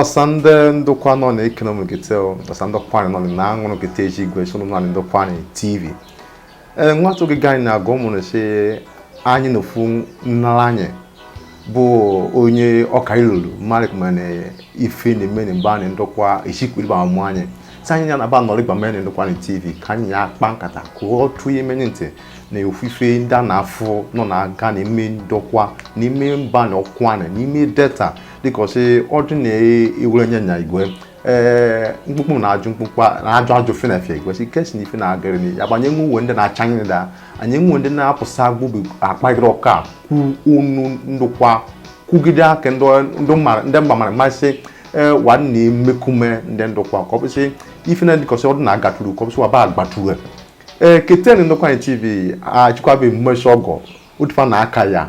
ọsa nde ndokwa nọ na ekonomi gete ọsa nde ukwuani nọ na aṅụrụ gete eji igwe sụrụ na ndokwa na tv ee nwata oge ganyị na-agụ ụmụrụ si anyị na ofu nnara anyị bụ onye ọka ilulu malik mana ife na eme na be anyị ndokwa echikwiriba amụ anyị si anyị ya na aba nọrọ gbama na ndokwa na tv ka anyị ya akpa nkata ka ọ tụ ime nye ntị na ofufe ndị a na-afụ nọ na-aga na ime ndokwa n'ime mba na ukwuani n'ime delta dịka ọ sị ọjụ na-ewere nye nya igwe ee mkpukpu na-ajụ mkpukpu na-ajụ ajụ fenafia igwe si kesi na ife na-agara ni ya gbanye nwe uwe ndị na-acha anyị da anyị nwe ndị na-apụsa gbụbụ akpagịrị ọka kwu unu ndokwa kwugide aka ndị ndị mara ndị mba mara mmasị ee wa na emekume ndị ndokwa ka ọ bụsị ife na dịkọsị ọdụ na-agaturu ka ọ bụsị waba agbaturu ee keten ndokwa anyị tv achịkwabe mmechi ọgọ otufa na aka ya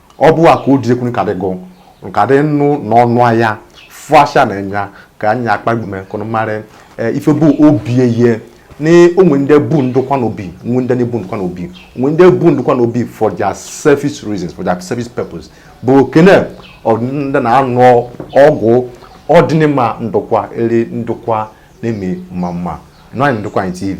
ọ bụ a ka o diekwu ka dị gụ nka dị nụ n'ọnụ ahịa fụ asha na nya ka anyị akpagbume ka unu marị e, ife bụ obi eye na o nwe ndị bu ndokwa n'obi nwe ndị na-ebu ndokwa n'obi nwe ndị bu ndokwa n'obi for their selfish reasons for their selfish purpose but okene ndị na-anụ ọgụ ọdịnịma ndokwa eri ndokwa na-eme mma mma nọ anyị ndokwa anyị tv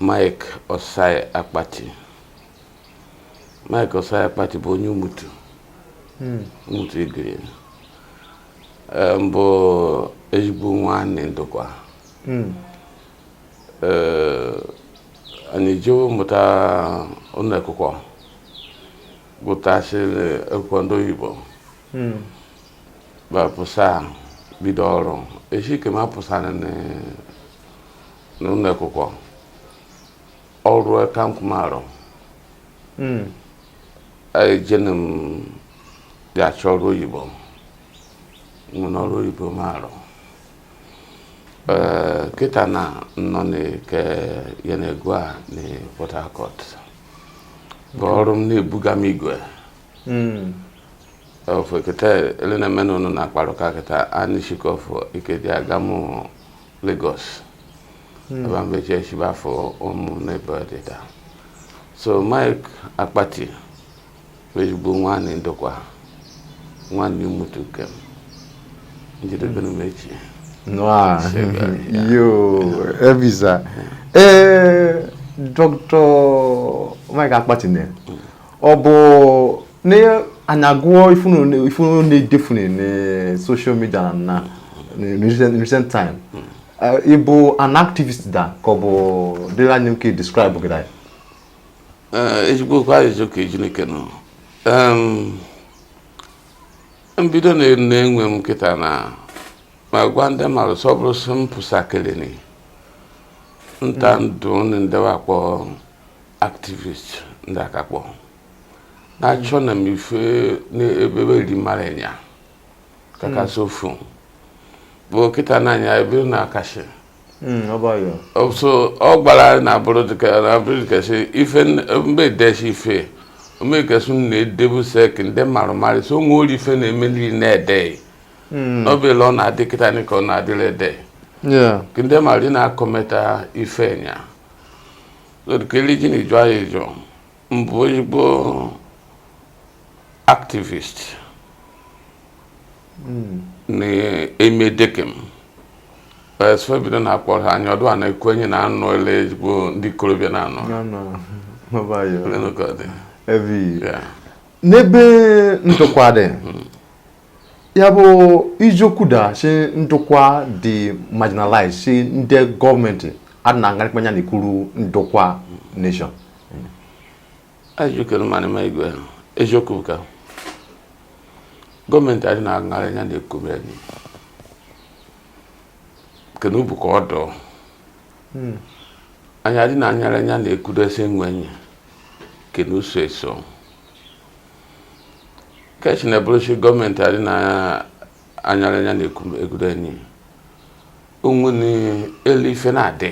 Mike Osai Akpati Mike Osai Akpati bụ onye Umutu hmm. Umutu Igiri mbụ ezigbo nwanne ndokwa hmm. anyị jewe mụta ụlọ akwụkwọ gụtasịrị akwụkwọ ndị oyibo hmm. ba pụsa bido ọrụ eshi ke m pụsara n'ụlọ akwụkwọ ọrụ aka m ka m arụ hmm. ejene m ga-achọ ọrụ oyibo nwene ọrụ oyibo m arụ ee kịta na nọ na ke Yenagoa na Port Harcourt bụ ọrụ m na-ebuga m igwe hmm. ofe kete ele na m na ụnụ na-akparị ụka kịta anishikofu ike dị aga m Lagos hmm. ebe m be je shi ba afụ ụmụ n'ebe ọdịda so Mike Akpati ezigbo nwanne ndokwa nwanne Umutu ke m jedebenụ mechi ọnụ. Yo, Evisa. Eh, Dr. Mike Akpati ne. ọ bụ na anyị agụọ ife unu na-edefune na social media na recent time ịbụ an activist da ka ọ bụ dịrị anyị nke describe gị anyị ezigbo okwu ajụjụ ka Chineke nọ mbido na-enwe m kịta na ma gwa ndị mmadụ sọ bụrụ sị m pụsakịrị nta ndụ ndị we akpọ activist ndị akakpọ na-achọ na m ife n'ebe erimara ya kakasị hmm. ofu bụ kịta n'anya ebe na akashi hmm, so ọ gbara na abụrụ dịka si ife mgbe edesi ife omekesụ na-edebuse ke ndị marụ marị so onwe ori ife na-eme nri na-ede hmm. n'obele ọ na-adị kịta ka ọ na-adịrị ede ndị marị na-akọmeta ife enya Kelechi na-eju anyị eju mbụ ezigbo activist hmm. na-eme dekem e bido na-akpọ ha anya ọdụ a na-ekwu enyi na anụ ele ezigbo ndị ikorobịa na anụ n'ebe Ndokwa dị hmm. ya bụ iziokwu da si Ndokwa dị marginalized si ndị gọọmenti adị na ngarịkpa anya na-ekwuru Ndokwa nation ajụkere mmadụ ma igwe eziokwu ka gọọmenti adị na-aṅarị anya na-ekobe anyị kene ubu ka ọ dọọ anyị adị na-anyarị anya na-ekwudesi nwe anyị kene uso eso ka esi na-ebụrụsi gọọmenti adị na-anyarị anya na-egudo enyi onwe na elu ife na-adị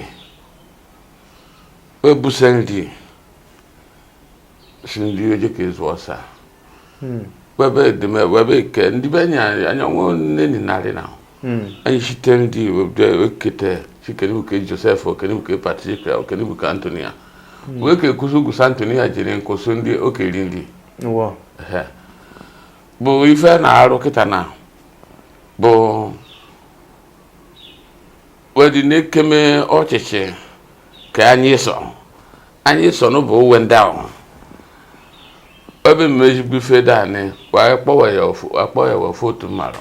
ebusa nri si nri oje ka ezu ọsa hmm. webe edeme webe ike ndị be anyị anya nwe nne ni narị na anyị site ndị ekete sị kene bụ ke Joseph o kene bụ ke Patrick o kene bụ ke Antonia wee ka ekwuzi ugwu sị Antonia jiri nkwụsị ndị okeri ndị bụ ife na-arụ kịta na bụ wedi na-ekeme ọchịchị ka anyị sọ anyị sọ n'ụbụ uwe ndị ahụ ebe mmejigbu ife daanị kwa akpọwa ya ofu otu mmarụ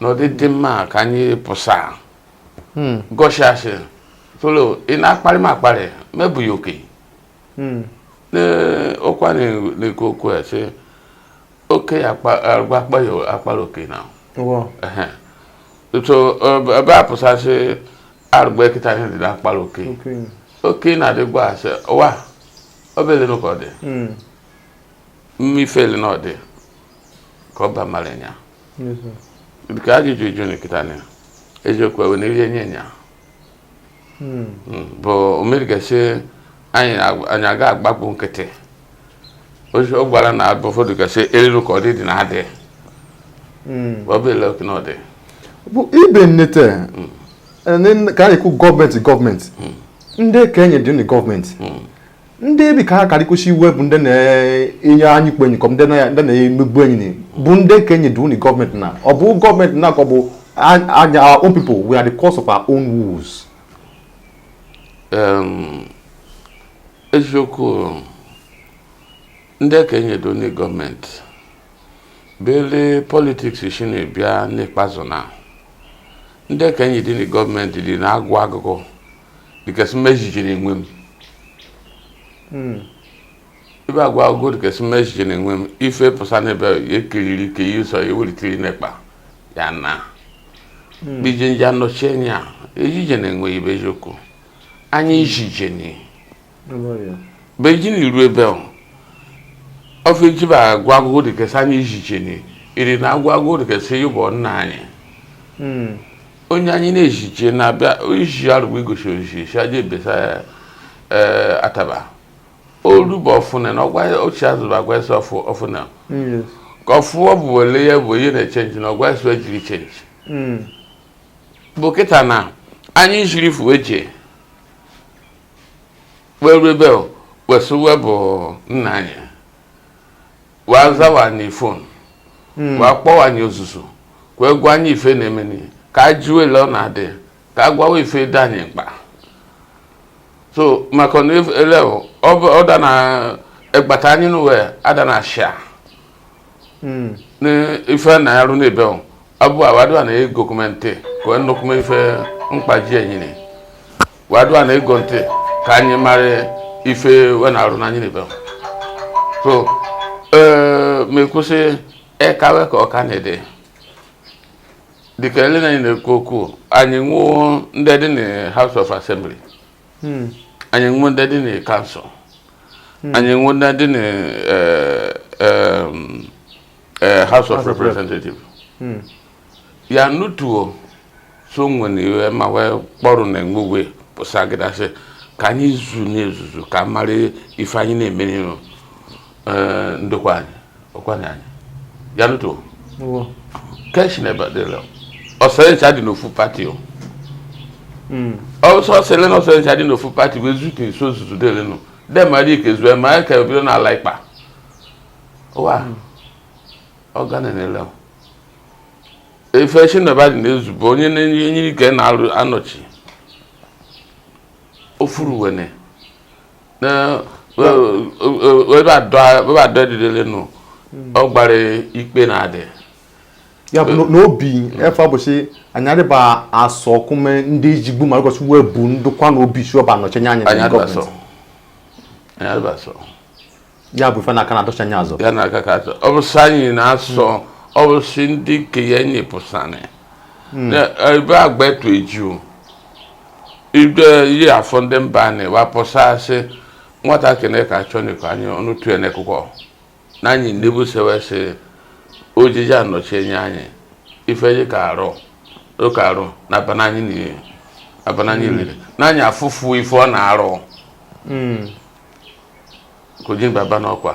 n'ụdị dị mma ka anyị pụsa hmm. gọshasị tụlụ ị na-akparị m akparị mebụghị oke hmm. ọkwa na-ekwu okwu ya sị oke ya akpara oke na so ebe a pụsasị arụgba kịta ihe dị na-akpara oke oke na-adịgwa asị wa ọ bụ ele nụ ka ọ dị mmifeli na ọ dị ka ọ bamara nya nke ajụjụ ị jụ nị kịta na eziokwu ewe na ihe nye nya hmm. hmm, bụ omeri gasị anyị aga agbapụ nkịtị ọ gbara na abụ ụfọdụ gasị eriri ka ọ dị dị na adị hmm. ọ bụ ele ka ọ dị bụ ibe nnete ka anyị kwu gọọmenti gọọmenti ndị ke enyi dị na gọọmenti ndị ebi ka ha karịkwesị iwe bụ ndị na-enye anyị kpe enyikọm ndị na-emegbu enyi bụ ndị ke enyi dị nụ gọọmenti na ọ bụ gọọmenti na ka ọ bụ our own people we are the cause of our own woes eziokwu ndị ke enyi dị nụ gọọmenti bele politiks si na-ebịa n'ikpeazụ na ndị ke enyi dị na gọọmenti dị na-agọ agụgọ dịka sị m ezijeni enwe m hmm. ibe agọ agụgọ dịka sị m ezijeni enwe m ife pụsa n'ebe ekiriri ike ihe sọ ewelitere n'ekpa ya na hmm. ije nje anọchie anya ezijeni enwe ibe eziokwu anyị ezijeni be je nụ ru ebe ahụ ofe jeba agọ agụgọ dịka sị anyị ezijeni iri na-agọ agụgọ dịka sị ịbụ nna anyị hmm. onye anyị na-ezije na-abịa iji arụgbu igosi ozizi aja ebesa eh, ataba olugbo ọfụna na ọgwa ochie azụ bụ agwa esi ọfụ ọfụna ka ọfụ ọ bụ wele ya bụ ihe na-echenji na ọgwa esi ejiri chenji hmm. bụ kịta na anyị jiri fuwe jee we ru ebe we sụ we bụ nna anyị wa zawa anyị fon hmm. wa kpọwa anyị ozuzu ka we gwa anyị ife na-eme nị ka a jụwa ele ọ na-adị ka a gwawa ife dị anyị mkpa so maka na ele ọ da na egbata anyị n'uwe ada na ashia hmm. ni ife na-arụ n'ebe ọ abụ awadu a na-ego kume ntị ka ọ nnukwume ife mkpa ji enyi nị wa dụ na-ege ntị ka anyị mara ife we na-arụ n'anyị n'ebe ọ so ee ma ekwụsị ekawe ka ọka na-ede dịka ele na anyị na-ekwu okwu anyị nwọ ndị dị na House of Assembly hmm. anyị enwe ndị dị na council hmm. anyị enwe ndị dị na eh, eh, eh, house of representative hmm. ya nutuo so nwere iwe ma wee kpọrọ na enwegwe pụsagida sị ka anyị zu n'ezuzu ka mara ife anyị na-emere ee ndokwa anyị ọkwanye anyị ya nụtụ keshi na ebadela ọsọrịcha dị n'ofu party o ọsọ sele na ọsọrịcha dị n'ofu party bụ ezute nso zuzu dele nụ demara ike zue ma ya ka ebido n'ala ịkpa ụwa ọgana na-ele ife chineba dị na-ezube onye na-enye ike na-anọchi ofuru wene webadọ edidele nụ hmm. ọ gbara ikpe na adị ya bụ n'obi hmm. efe abụsị anyị adịba asọ ọkụme ndị ijigbu ma ụbọchị wee bu ndụkwa na obi sị ọ ba anọchi anya anyị adịba asọ ya bụ ife na-aka na-adọchi anya azụ ya na-aka ka azụ ọ bụsị anyị na-asọ ọ bụsị ndị nke ya enyi pụsanị hmm. ebe agba etu eju ibe ihe afọ ndị mba anyị wa pụsa a sị nwatakịrị ka achọ n'iko anyị ọnụ tue n'ekụkọ na anyị ndị bụ sewe sị ojiji anọchi anya anyị ife anyị ka arụ ụka arụ na abananyị niile abananyị hmm. niile na anyị afụfụ ife ọ na-arụ hmm. ka ojini baba n'ọkwa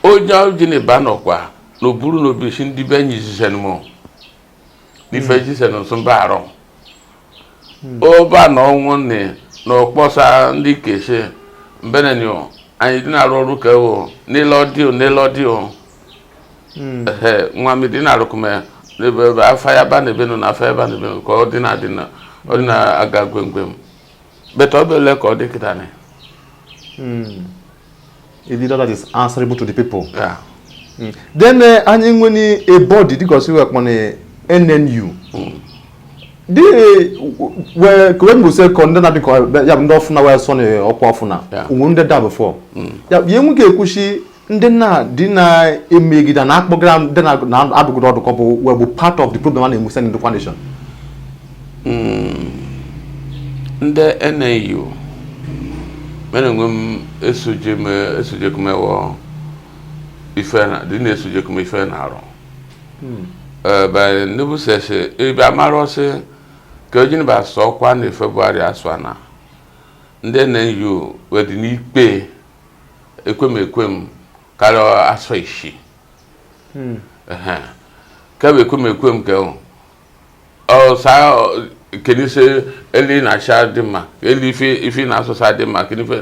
onye ojini ba n'ọkwa na o buru na obi sị ndị be anyị zisen mụ n'ife hmm. zisen nso mba arọ oba hmm. na ọnwụ nne na ọkpọsa ndị kesi mbenenyo anyị dị na-arụ ọrụ ka ewo n'ile ọdịo n'ile ọdịo hmm. nwa m dị na-arụkụme n'ebe ebe afa ya ba na ebe nọ na afa ya ba na ebe nọ ka ọ dị na-adị na ọ dị na-aga gwemgwem But ọ bụ ka ọ dị kịta na a leader that is answerable to the people. Yeah. Mm. Then uh, anyị nwere a body dịka ọsị wekpọ na NNU. Dị wee ka wee mbụsị kọ ndị na-adị ka ya bụ ndị ọfụna wee sọ na ọkwa ọfụna. We did that before. Ya bụ ihe nwoke ekwuchi ndị na dị na-emegide na akpọgara ndị na-adụgide ọdụ kọ bụ wee bụ part of the problem a na-enwesa in the coalition ndị NNU mere onwe m esojekumewo ife na dị na-esojekume ife na arụ nebusese ebe amara ọ sị ka ojini ba sọ ọkwa na February asụ na ndị NNU wee dị n'ikpe ekwem ekwem karịa asọ isii hmm. kebe ekwem ekwem ke ọsa kene ise elu na-acha dị mma elu ife ife na-asụsa dị mma kene ife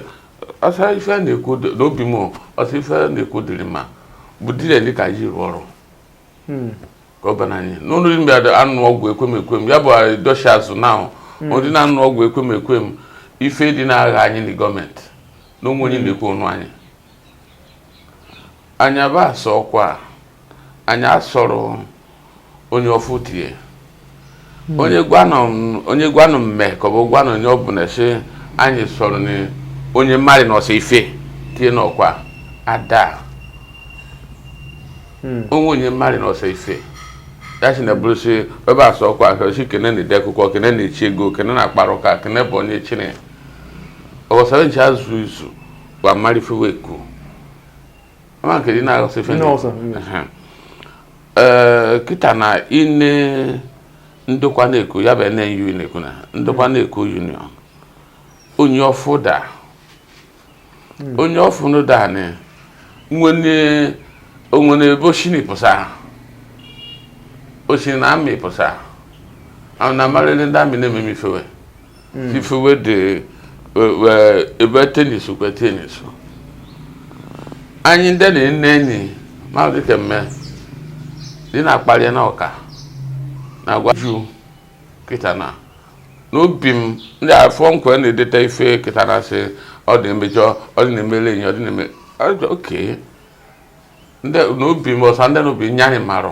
ọsa ife na-ekwu n'obi m ọsa ife na-ekwu dịrị mma bụ dire dị ka ji rụọ ọrụ hmm. gọvanọ anyị n'ụlọ ime anụ ọgwụ ekwemekwe m ya bụ dọshi azụ na ahụ hmm. ọ dị na anụ ọgwụ ekwemekwe m ife dị na-agha anyị na gọọmenti na onwe anyị hmm. na-ekwe ọnụ anyị anyị aba asọ ọkwa anyị asọrọ onye ọfụ tie hmm. onye gwanụ onye gwanụ mme ka ọ bụ gwanụ onye ọ bụla si anyị sọrọ na onye mmadụ na ọsọ ife tie n'ọkwa ada hmm. onwe onye mmadụ na ọsọ ife ya si na bụrụ si ebe asọ ọkwa ahụ si kene na ide akwụkwọ kene na echi ego kene na akpara ụka kene bụ onye chine ọghọsara nche azụ izu gwa mmadụ ife we ekwu ama nke dị na ọsọ ife ee kịta na ịne Ndokwa Neku ya bụ NNU na-ekwu na Ndokwa Neku Union onye ọfụ da hmm. onye ọfụ no da ni nwene onwere ebe oshini pụsa oshini na amị pụsa ahụ na amarịrị ndị amị na-ememe ife we mm. ife we dị ebe tenis kwe tenis anyị ndị na-ene enyi ma dị kemme dị na-akpali na ọka na-agwa ju kịta na n'obi m ndị afọ nkwe na-edeta ife kịta na sị ọ dị emejọ ọ dị na-emele enyi ọ dị na-eme oke n'obi m ọsa ndị n'obi nye anyị marụ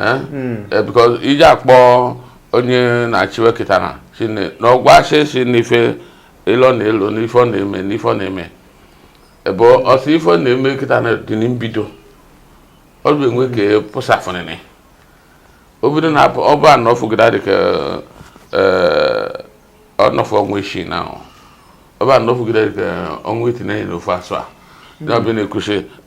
eh? hmm. eh, because iji akpọ onye na-achịwe kịta na shi na ọ gwa asị si n'ife ilo na-elo n'ife ọ na-eme n'ife ọ na-eme ebe ọsọ ife ọ na-eme kịta na dị na mbido ọ bụ enwe ka pụsafụnịnị obido na ọ ba anọfụgide dị ka ọnọfụ ọnwa isii na ọ ba anọfụgide dị ka ọnwa iteni na ofu asụa ya ọbịa na-ekwusi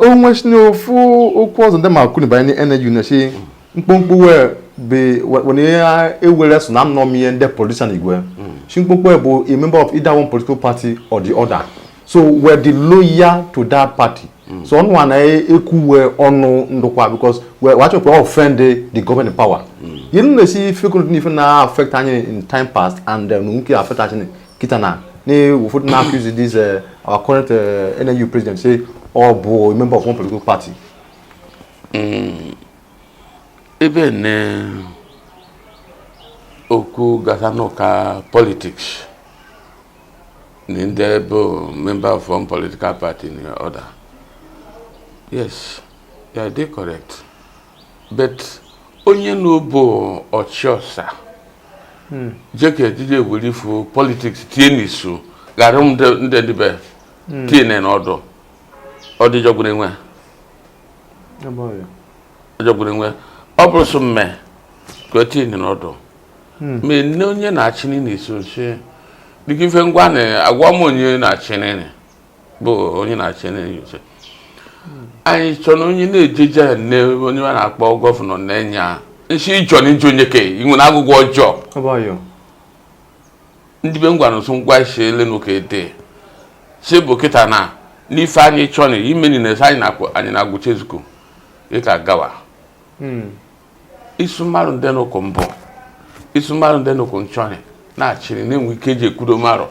onwesi na ofu okwu ọzọ ndị ma kwuru banyere NNU na-esi mkpụmkpụ wee wani ya ewere so na nnọọ ihe ndị politician igwe Shimkpokwe bụ a member of either one political party or the other so we dị loyal to that party mm. so ọnụ a na-ekwuwe ọnụ Ndokwa because we achọnị we offend the government in power ihe nna esi ife kụrụ n'ife na affect anyị in time past and nke affect anyị kịta na ụfọdụ na-accuse this uh, our current uh, NNU president say ọ bụ member of one political party mm, ebe na okwu gbasa n'ụka politics na ndị bụ member of one political party another yes ya dị correct but onye na ọ bụ ọchịọsa hmm. jeka ejije were ife politics tie n'isu ghara ndị dịbe hmm. tie na ọdụ ọ dị jọgburu enwe ọ jọgburu enwe ọ bụrụ sọ mme ka o tie na ọdụ hmm. mana onye na-achị n'isu nsị dịka ife ngwa na agwa m onye na-achị n'ịnị bụ onye na-achị na anyị chọ na onye na-ejeje ya nne onye a na-akpọ gọvanọ na-enye ya nsi ịchọ na iji onye ka ị nwere agụgụ ọjọọ ndị be ngwa nso ngwa isi ele na ụka ede si bụ kịta na n'ife anyị chọ na ime na anyị na-agwụcha ezukọ ịka gawa hmm. isu mmadụ ndị n'ụkwụ mbụ isu mmadụ ndị n'ụkwụ nchọrị na-achịrị na-enwe ike eji ekwudo mmadụ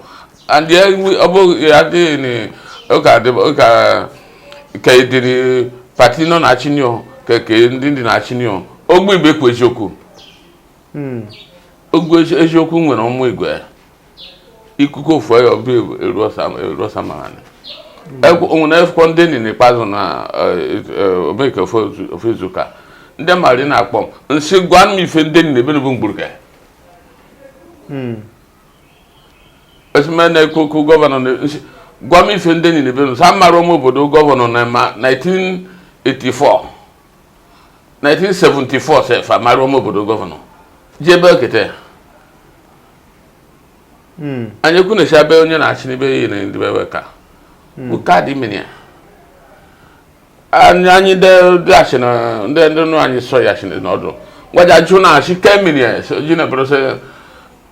and ya ọ bụghị adịghị ụka ụka ka ediri pati nọ na achinio ka ke ndị ndị na achinio ogbe ibe kwu eziokwu hmm. ogbe eziokwu nwere ụmụ igwe ikuku ofu ya ọbụ eruosa mara onwere akwụkwọ ndị nị n'ikpeazụ na eh, eh, omeke ofe izuụka ndị mmadụ na-akpọ m nsị gwa m ife ndị nị n'ebe bụ mgburu ka hmm. esime na-ekwu okwu gọvanọ nsị gwa m ife ndị nị n'ebe n'ọsa mara ụmụ obodo gọvanọ na 1984 1974 sefa mara ụmụ obodo gọvanọ ji ebe okete hmm. anyị ekwu na-esi abe onye na-achị n'ibe ya na ndị bebe ka hmm. kaadị mmiri ya anyị anyị ndị achị na ndị ndị nụ anyị sọ ya achị na ọdụ gwaja jụ na achị ke mmiri ya ji na bụrụ sị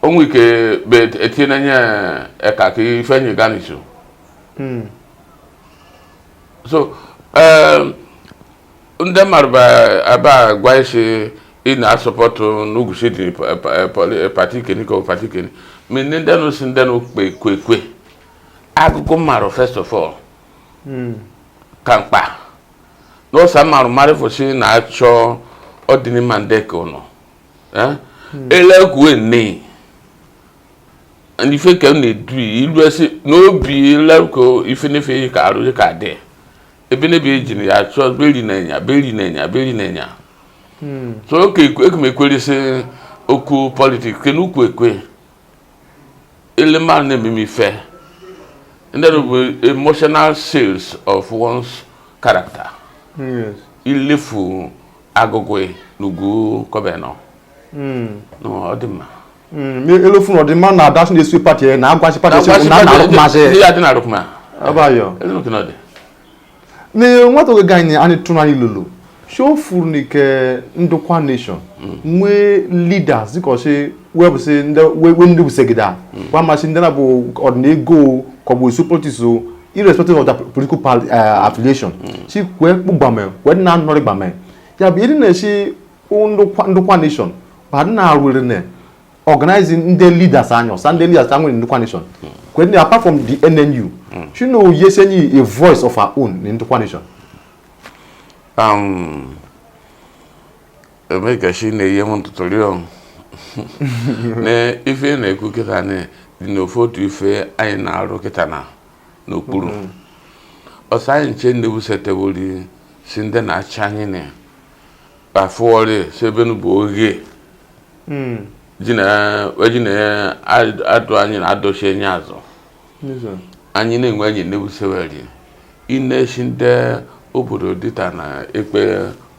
onwe ike be etinye na nye eka ka ife enyi gaa n'isu hmm. so um, ndị mmadụ ebe a gwa isi ị na-support n'ugwusi dị pati keni ka pati keni ma ndị ndị nụ si ndị nụ kpe kwe kwe agụgụ mmarụ first of all hmm. ka mkpa n'ọsa mmarụ mmadụ fụsị na-achọ ọdịnmma ndị ka ụnụ eh? hmm. ele kwuwe nne ife ka m na-edu ilu esi n'obi ileruko ife n'ife ka arụ ka dị ebe na ebe ejiri ya achọ beri na enya beri na enya beri na enya hmm. so oke ekumekwerisi okwu politiks ke n'ukwu ekwe ele mmadụ na-ememe ife ndị bụ emotional sense of one's character ilefu agụgụ n'ugwu kọbenọ hmm. ọ dị mma hmm, elofun ọdị mma na adasị na-esi pati na agwachi pati esi na na arụkmasị ya dị na arụkma abayọ na nwata oge ganyị anyị tụrụ anyị lolo shofuru na ike Ndokwa nation hmm. nwee leaders dịka ọchị webụsị ndị bụsegida hmm. gwa masị ndị na-abụ ọdịnihu kọgbụ issue politiks irrespective of their political uh, affiliation si kwe kpụ gbame kwe na anọrị gbame ya bụ ịdị na-esi Ndokwa Ndokwa nation ba nna arụrị na organizing ndị leaders anyị ọsa ndị leaders anyị nwere Ndokwa nation kwen apart from the NNU shi nọ yese anyị a voice of our own in Ndokwa nation um emeka shi na-eyi m ntụtụrị ọnụ na ife na-ekwu kịta na dị n'ofe otu ife anyị na-arụ kịta na n'okpuru ọsọ anyị nche ndị bụ setebụli si ndị na-achị anyị na ya afụọrị sebenu bụ oghe hmm. ji na-adụ anyị na adọchi enye azụ anyị na-enwe anyị na-ebuseweri ịna-esi ndị obodo dịta na ekpe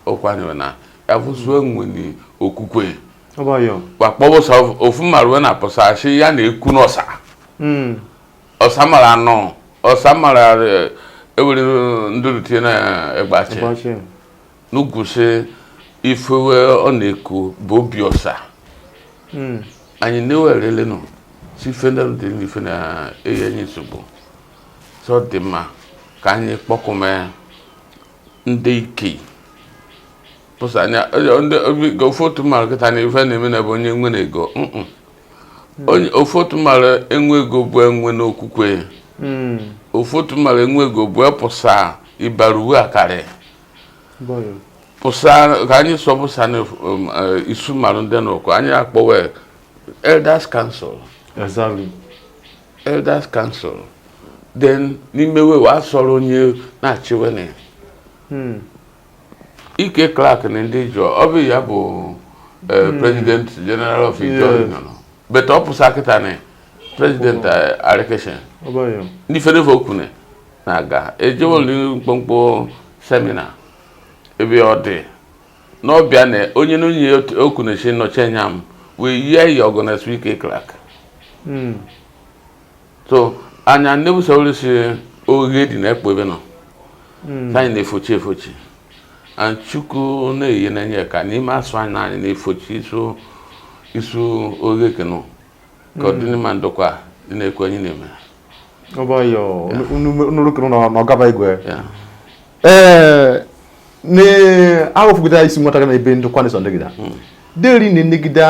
ọkwanyere na ya fụsue nwere okwukwe wakpọbụsa ofu mara wee na-apụsa asị ya na-ekwu n'ọsa hmm. ọsa mara anọ ọsa mara ewere ndụrụ tinye na egbachi n'ugwusi ifewe ọ na-eku bụ obi ọsa hmm. anyị na-ewerelenu si ife ndị dị n'ife na-eyi anyị nsogbu so ọ dị mma ka anyị kpọkụme ndị ike pụsa anya ofu otu mara kịta na ife na-eme na bụ onye nwere ego hmm. ofu otu mara enwe ego bụ enwe n'okwukwe hmm. ofu otu mara enwe ego bụ epụsa ịbara uwe akarị ka anyị sọpụsa um, eh, isu mmadụ ndị n'ụkọ anyị akpọwe elders council exactly elders council then n'ime we wa sọrọ onye na-achịwe na hmm. E.K. Clark na ndị Ijaw ọ bụ ya bụ eh, hmm. president general of Ijaw but ọ pụsa kịta na president eh, arikeshen n'ife n'efe okwu na na-aga ejewoli mkpọmkpọ seminar ebe ọ dị n'ọbịa na onye na onye okwu na-eche nnọchi anya m wee yie ya organize EK Clark hmm. so anya nne bụ sọrọ si oghe dị na ekpo ebe nọ hmm. anyị na-efochi efochi chukwu na-eyi n'enye ka n'ime asụ anyị na anyị na-efochi isu isu oghe kenụ ka ọdị n'ime ndokwa dị na-ekwu anyị na-eme ee na-ahụfụgide isi nwata gị na ebe ndokwa na-eso ndị gịda hmm. deri na-enegide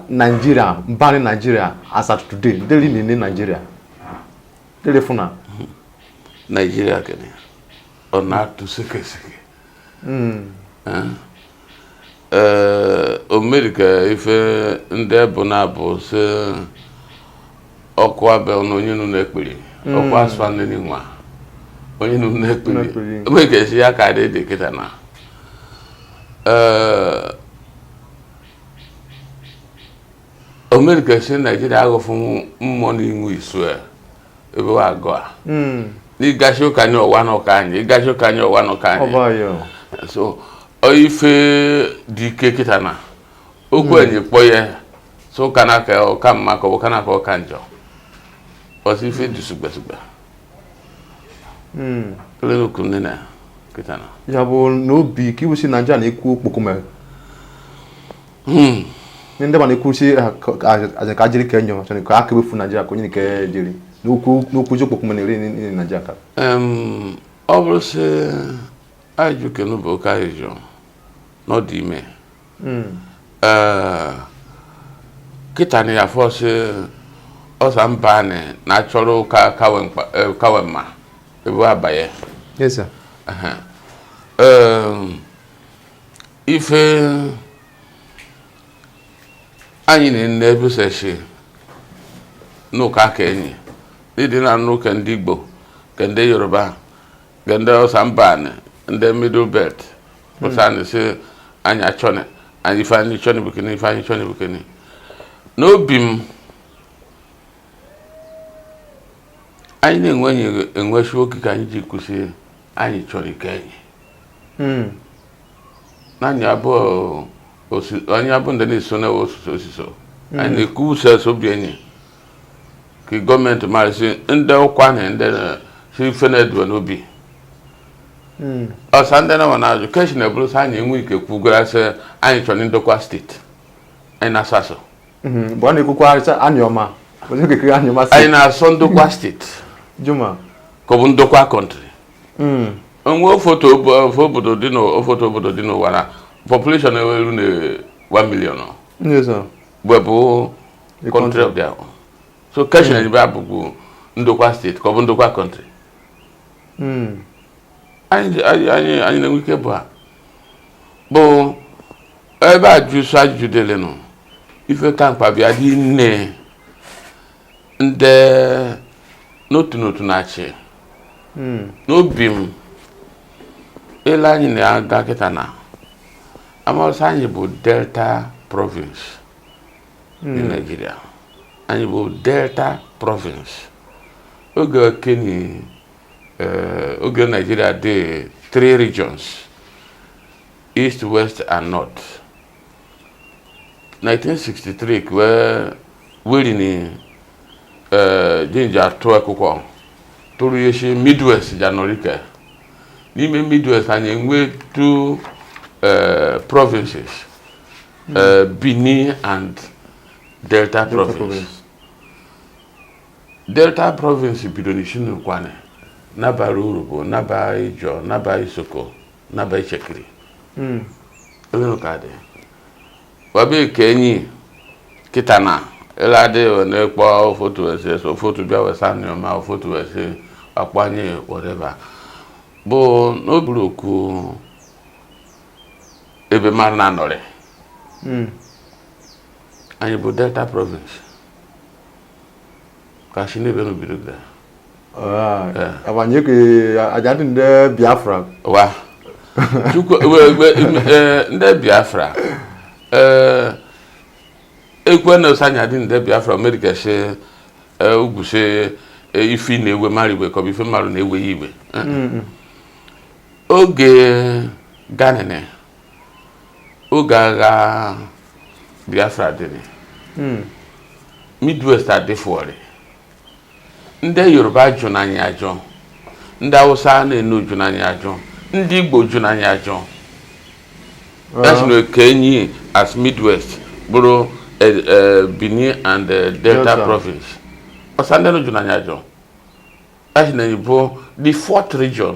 Nigeria mba anị Nigeria as at today deri na-ene Nigeria deri fụna hmm. Nigeria kene ọ na-atụ sekeseke hmm. eh? ee o meri ka ife ndị bụ na-abụ si ọkụ abịa na onye nụ na-ekpiri hmm. ọkụ asụ anị nwa onye nụ na-ekpiri o meri ka esi ya ka dị kịta na ee o meri ka si Nigeria aghọfụ mmụọ na inwe isu ya ebe wa agụ a hmm. n'ịgachi ụka anyị ụwa n'ụka anyị ịgachi ụka anyị ụwa n'ụka anyị so ife dị ike kịta na okwu hmm. enyi kpọ ya so ọ ka na-aka ọka mma ka ọ ka na-aka ọka njọ ọsị ife dị sugbesugbe ele okwu nne na kịta na ya bụ n'obi ka iwusi Naija na-ekwu okpokome hmm. ndị ndị mana ekwusi eh, ka jiri ka enyo chọrọ ka aka ewefu Nigeria ka onye nke jiri n'okwu ji okpokome na-eri Nigeria ka ọ bụrụ sị ajụ kenu bụ oke ajụjụ n'ọdị ime hmm. eh, kịta na ya fọsị Hausa mba anyị na-achọrọ ọ ka kawe mma ebe abanye ife anyị na-ene ebuseshi n'ụka ka enyi n'ịdị na anụ ka ndị Igbo ka ndị Yoruba ka ndị Hausa mba anị ndị middle belt pụsanị si anyị achọni anyị ife anyị chọni bụ kịnị ife anyị chọni bụ kịnị n'obi m anyị na-enweshi oge ka anyị ji kwụsị anyị chọni ike enyi hmm. anyị abụ anyị abụ ndị na-eso na ọsịsọ ọsịsọ hmm. anyị na-ekwu uche obi enyi ka government marị sị ndị ụkwa na ndị si ife na-eduwe n'obi hmm. ọsa ndị na wa na-ajụ question na eburu sa anyị enwe ike kwugara sị anyị chọrọ Ndokwa state anyị na-asọ asọ mgbe ọ na-ekwukwa anyị ọma anyị na-asọ Ndokwa state juma ka ọ bụ Ndokwa country hmm. o nwe ofoto obodo dị n'ofoto obodo dị n'ụwa na population eru na 1 million we bụ country of their own so question ebe hmm. abụbụ Ndokwa state ka ọ bụ Ndokwa country hmm. anyị na-enwe ike bụ a bụ ebe a jụsụ ajụjụ dịlịnụ ife ka mkpa bịa dị nne ndị n'otu n'otu na-achị hmm. n'obi m ele anyị na-aga kịta na a ma sị anyị bụ Delta province dị hmm. Nigeria anyị bụ Delta province oge keni eh, oge Nigeria dị three regions east west and north 1963 ka wee weri ni eh, jinja atụ akwụkwọ tụrụ ya shi Midwest ja-anọrị ke n'ime Midwest anyị enwe two eh, provinces eh, Benin and Delta province Delta province bido n'isi n'Ukwuani naba Urhobo naba Ijaw naba Isoko naba Itsekiri hmm. onye ụka dị wabe ka enyi kịta na ele adịghị wee na-ekpọ ofotu ese so ofotu bịa wesa nyoma ofotu ese akpanye whatever bụ n'oburu okwu ebe mara na anọrị hmm. anyị bụ Delta province ka si n'ebe nu bido bịa abanyeke agha dị ndị Biafra wa Chukwu ndị Biafra ekwe na ọsa anyị adị ndị Biafra amerika si ugwu si ife na-ewe mmadụ iwe ka ọ bụ ife mmadụ na-ewe ya iwe oge ganene oge agha Biafra dịrị hmm. Midwest adịfụọrị ndị Yoruba jụna anyị ajụ ndị Awụsa na-enu jụna anyị ajụ ndị Igbo jụna anyị ajụ a sị nke enyi as Midwest bụrụ e, e, Benin and e, Delta province ọsa ndị jụna anyị ajụ a sị enyi bụ the fourth region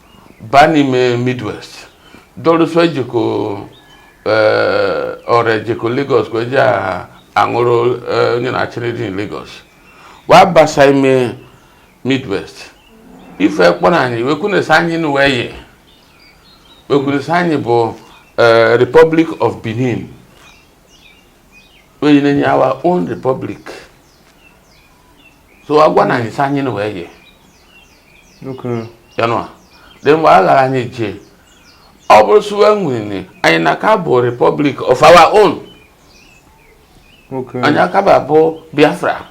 baa n'ime midwest dọrụsọ ejeko eh, Ore ejeko Lagos ka e je anwụrụ eh, onye na-achịrị dị Lagos wa basa ime midwest ife kpọrọ anyị wekwunesi anyị na wee yi wekwunesi anyị bụ eh, Republic of Benin wee nye anyị our own republic so agwa na anyị sị anyị na wee yie you know then wa gwara anyị sị ọ bụrụ sị wa wini anyị na ka bụ republic of our own anyị akaba bụ biafra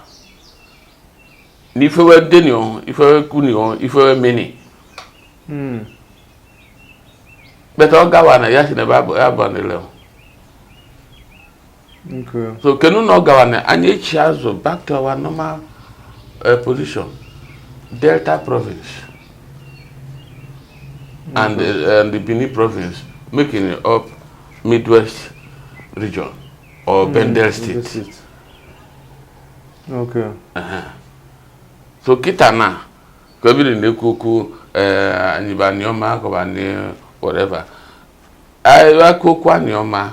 na ife we deni o ife we kwuni o ife we meni hmm. but ọ gawa na ya si na ebe abụ ya bụ nile so kenu na ọ gara na anyị echi azụ back to our normal eh, position delta province and eh, and the benin province making up midwest region or mm, bendel state okay uh-huh. so kịta na ka ebiri na-ekwu okwu eh, anyị bụ aniọma kọbụ whatever ekwu okwu aniọma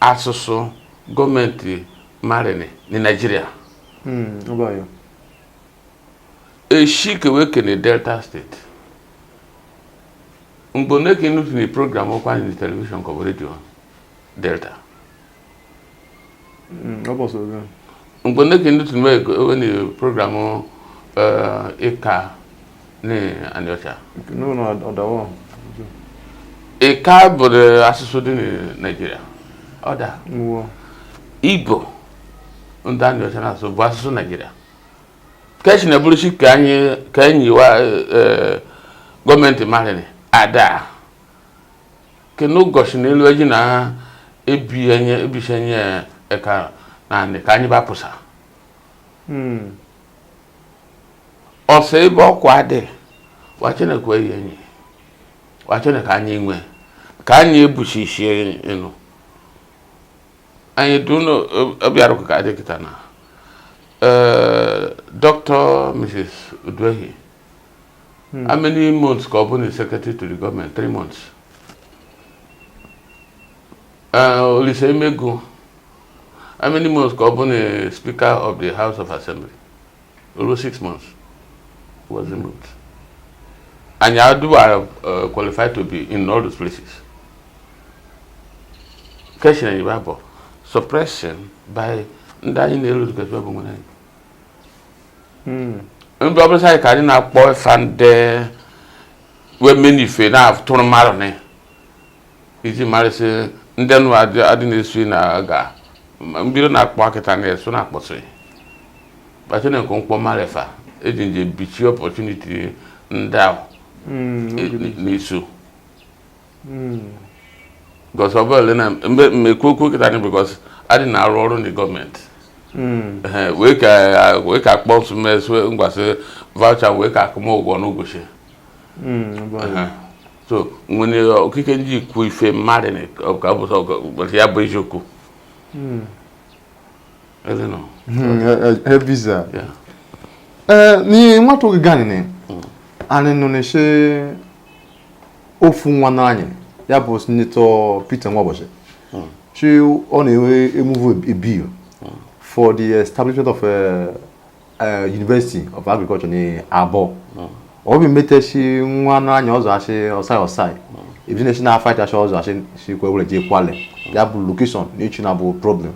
asụsụ government marịnị ni Nigeria hmm, eshi ke we kene Delta State mgbe one ka ị nụtụnị program Ụkwụanị ni television kọbụ radio Delta hmm, mgbe one ka ị nụtụnị program Ika eh, ni Aniocha. No, no, Odawa. Ika bụ asụsụ dị Nigeria. Ọda. Igbo ndị Aniocha na-asụ bụ asụsụ Nigeria. Ka esi na-eburusi ka anyị ka enyi wa e, e, government marịnị ada. Kenu goshi na elu eji na-ebishi enye eka naanị ka anyị bapụsa. Hmm. ọsọ ebe okwu a dị wa chọnị kwa anyị enyi wa chọnị ka anyị nwe ka anyị ebushishie enu anyị dunu ọ bịaru ka a dị kịta na dr mrs uduehi hmm. how many months ka ọ bụnị secretary to the government three months olise emego how many months ka ọ bụ na speaker of the house of assembly olu six months was removed anyị adịwa uh, qualified to be in all those places keshin anyị bụ suppression by ndị anyị na-elu dịkasị bụ nwere anyị hmm. ndị ọbụla anyị ka anyị na-akpọ ife ndị wee menu ife na-atụrụ mmadụ n'anya iji marịsị ndị nụ adị na-esu na aga mbido na-akpọ akịta na-esu na-akpọsị kpachara nke mkpọ marefa eji nje bichie opportunity ndị ahụ hmm, e, n'isu because hmm. ọ bụla na mgbe mmekwu okwu kịta anyị because adị na-arụ ọrụ ni government hmm. wee ka akpọ nsụmesụ ngwasị voucher wee ka akwụ m ụgwọ n'ụbọchị so nwere okike ndị ikwu ife mmadụ ka ọ bụ ya bụ eziokwu hmm. I don't know. Hmm, eh, eh, eh, visa. Yeah. Eh, ni nwa to gani ni. Hmm. Ani nụnụ shi ofu nwanne anyị. Ya bụ Senator Peter Nwaoboshi. Hmm. Shi ọ na e-move a bill for the establishment of a eh, University of Agriculture ni Aboh hmm. obi meteshi nwanne anyị ọzọ asị Ossai Ossai ebi na-esi na fight asị ọzọ asị si kwe were jee Kwale hmm. ya bụ location na ichi na bụ problem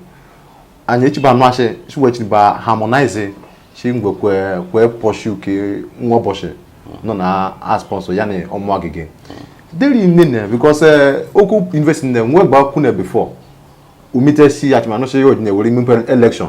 anyị echiba anụ asị si wee chiniba harmonize si ngwe kwe kwe pursue ke Nwaoboshi hmm. nọ na a-sponsor ya na Omo-Agege deri nne na because eh, okwu university na nwe gba kwune before o meteshi achịmanụ si ya ojine were imepe election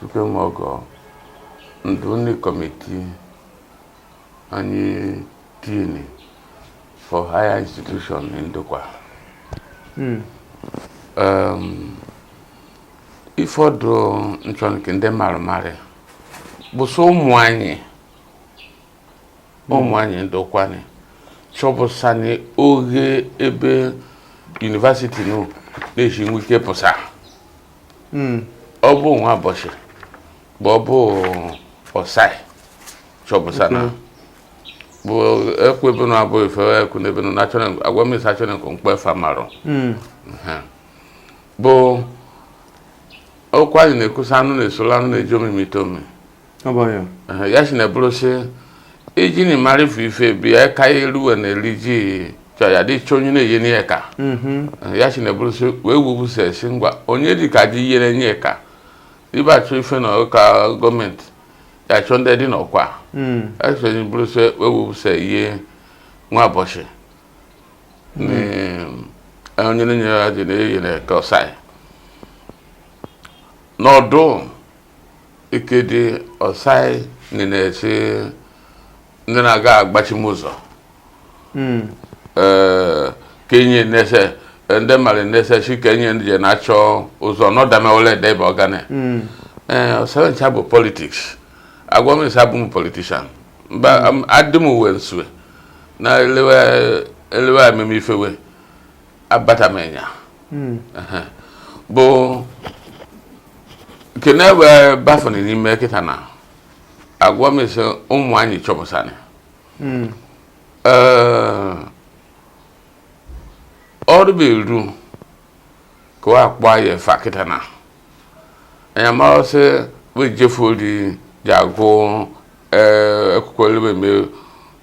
Supreme Ogo ndụ ni committee anyị tini for higher institution Ndokwa hmm. um, ifọdụ nchọnke ndị mara mara bụsọ ụmụ anyị ụmụ anyị Ndokwa ni chọbụsani oge ebe university nụ na-eji nwe ike pụsa hmm. ọ bụ Nwaoboshi bụ ọ bụ Ossai chọbụsa na bụ ekwu ebe na abụ ife ekwu n'ebe na achọrọ agwa m isi achọrọ nke mkpe fa marụ hmm. bụ okwu anyị na-ekwusa anụ na-esola anụ na-eji omimi ite omimi ya si na-ebụrụ sị iji na ịmara ife ife bi ya ka ya eruwe na eri ji chọ ya dị chọ onye na-eyeni ye eka ya si na-ebụrụ sị wee wubụsa esi ngwa onye dị ka ji yere nye eka ebe achọ ife na ụka government ya chọ ndị dị n'ọkwa ya si na ebụrụ sị wee wubụsa ihe Nwaoboshi onye na-enyere ya dị na-eyi na ka Osai nọdụ Ikedi Osai na-esi ndị na-aga agbachi m ụzọ hmm. ka enye nese ndị mmadụ nese si ka enye ndị na-achọ ụzọ n'ọdamewole ede bụ ọgane hmm. ọsa we ncha bụ politics agwa m sị abụ m politician mba hmm. adị m uwe nsue na elewe amemife wee abatamenya hmm. bụ kene wee bafere n'ime kịta na agwa m sị ụmụ anyị chọpụsara hmm. ọrụ bụ eru ka ọ akpọ ya fa kịta na anyị mara sị we jefu ori ja agụ akwụkwọ elebe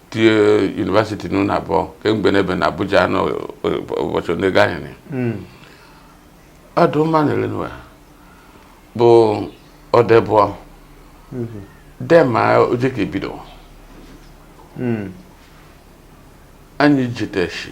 tie university nọ n'Aboh kemgbe n'ebe na Abuja n'ụbọchị ole gahịrị ọdụ mma na-ele n'ụwa bụ ọdebụọ dema oje ka ebido anyị jiteshi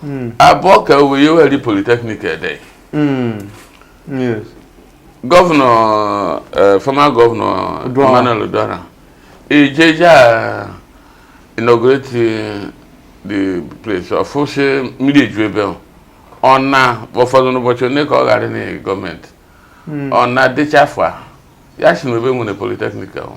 hmm. Aboh ka we ye weri polytechnic ede hmm. governor eh, former governor Emmanuel Uduaghan eje ja inaugurate the place ọfụsị mmiri eju ebe ọ na ụfọdụ n'ụbọchị onye ka ọ ghara na government hmm. ọ na-adịcha afọ ya si n'ebe nwere polytechnic ahụ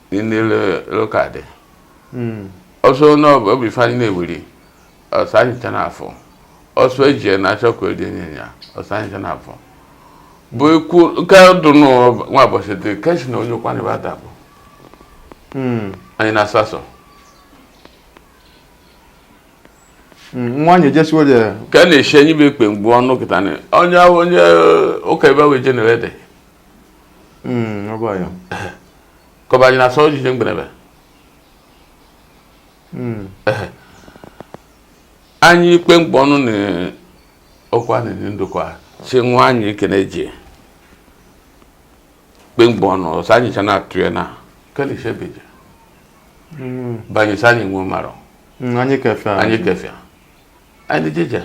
ndị loka dị hmm. ọsọ n'obi ife anyị na-ewuri ọsa anyị ncha na-afụ ọsọ eji ya na-achọ ka odi enye ya ọsa anyị ncha na-afụ bụ ikwu nke dụ nwa ụbọchị dị kechi na onye Ụkwụanị bụ adabụ hmm. anyị na asasọ nwanyị jesiwo dị ka a na-eshi enyi bụ ikpe mgbu ọnụ kịta onye onye ụka ebe wee jenere dị ka ọ bụ anyị na-asọ ojije mgberebe hmm. anyị ikpe mkpọ ọnụ na okwu a na-enye Ndokwa si nwa anyị ekene ji kpe mkpọ ọnụ ọsa anyị cha na-atụ ya na kelisebeje hmm. banye ọsa anyị nwe mara hmm, anyị kefịa anyị jeje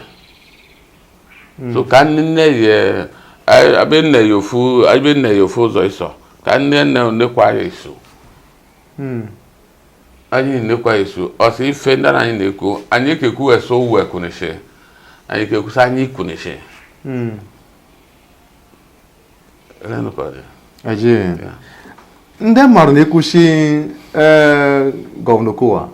so ka ndị nne ya anyị- abịa nne ya ofu abịa nne ya ofu ụzọ ịsọ ka nne nne nekwa ya iso anyị nekwa iso ọsa ife ndị anyị na-ekwu anyị kekwu eso we kwunishe anyị kekwusa anyị kwunishe ndị mmadụ na-ekwu shi eh, gọvanọ Okowa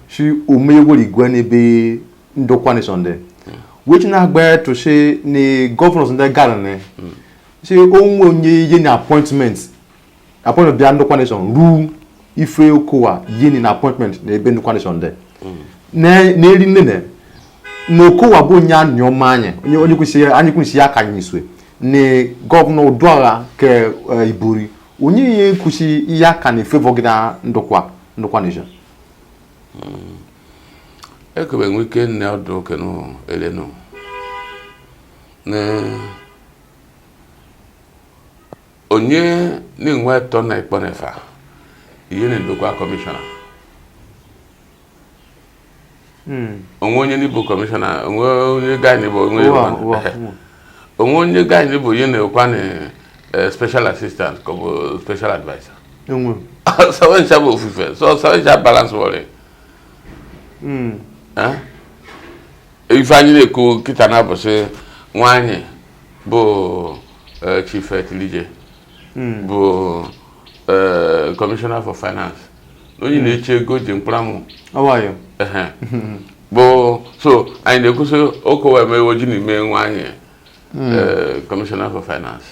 shi hmm. omeyewere igwe n'ebe ndokwa nation dị hmm. wechi na-agba tụchi na gọvanọ ndị gara na si onwe onye e yeni appointment appointment bịa ndokwa nation ruo ife okowa yeni na appointment na ebe ndokwa nation dị na-eri nene na okowa bụ onye anyị ọma anyị onye onye kwesịrị anyị kwesịrị aka anyị swe na gọvanọ uduaghan ke eh, ibori onye ihe kwụsị ihe aka na favour gị da ndokwa ndokwa nation ekebe nwe ike nne ọdụ oke nụ ele nụ na Onye na-enwe atọ na ikpọnefa ihe na ndokwa commissioner hmm. onwe onye ni bụ commissioner onwe onye gaị n'ịbụ onwe onwe onye gaị n'ịbụ onye na-ekwa na eh, special assistant ka ọ bụ special adviser so we ncha bụ ofufe so we ncha balance wọrị hmm. eh? ife anyị na-ekwu kịta na bụ sị nwa anyị bụ eh, Chief Tilije hmm. bụ eh, Commissioner for Finance onye hmm. na-eche ego ji mkpụramụ bụ so anyị na-ekwu sị okowa emewo ji n'ime nwa anyị hmm. eh, Commissioner for Finance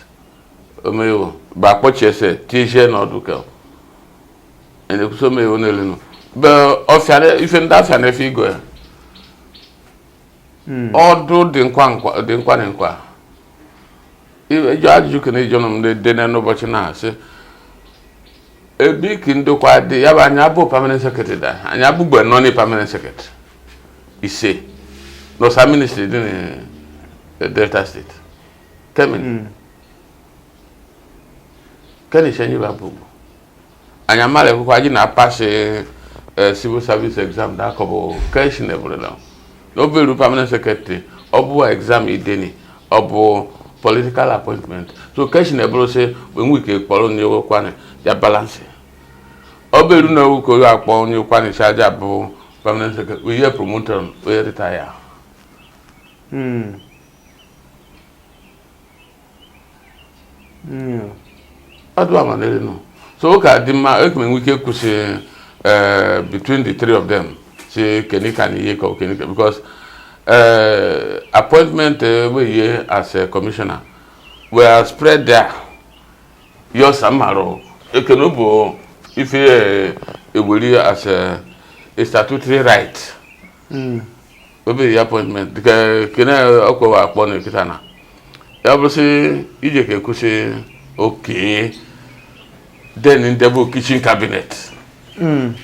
omewo bụ akpọchiese tizie n'ọdụ ka anyị na-ekwu sị omewo n'elu nọ ọfịa ife ndị afịa na-efe igo ya hmm. ọdụ dị nkwa na nkwa ịjụ ajụjụ kene ijụnụ m dị n'ụbọchị na-asị ebe ki ndokwa dị ya bụ anyị abụ permanent secretary da anyị abụgbe nọ na permanent secretary ise n'ọsa ministry dị na delta steeti kemi hmm. keni shenyi bụ abụgbo anyị amarakwa ji na-apass eh, civil service exam na akọbụ keshi na eburela n'oberu permanent secretary ọ bụ exam e deni ọ bụ political appointment so keshi na eburu sị enwe ike kpọrọ onye ukwuani ya balance o beru na ewu ka onye akpọ onye ukwuani sị a ja-abụ permanent secretary ihe promote a we retire so ọ ga-adị mma eke enwe ike kwu sị eh, between the three of them sị kenika na ihe ka kenika because eh, appointment eh, we ye as a commissioner were spread there ye ọsa mara kene bụ ife ewere as a statutory right hmm. obi ya appointment dịka kene Okowa akpọ na kịta na ya bụrụ sị i je ka ekwu sị okay then nde bụ kitchen cabinet hmm.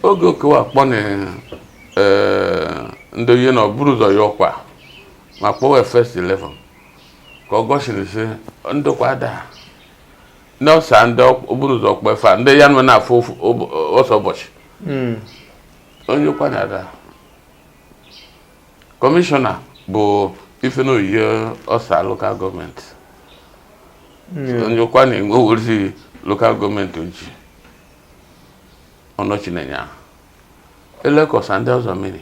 oge Okowa akpọ na eh, ndị ihe na o buru ụzọ ya ọkwa ma kpọwa first 11 ka o gosiri sị Ndokwa adịa na ọsa ndị o buru ụzọ kpọ efa ndị ya na we na-afụ ọsa ụbọchị hmm. onye Ụkwụanị adịa kọmishọna bụ Ifenoyie Osa lokal gọọmenti onyekwa na-enwe oriri lokal gọọmenti oji ọnọchi na-enye ahụ elekọsa ndị ọzọ mmiri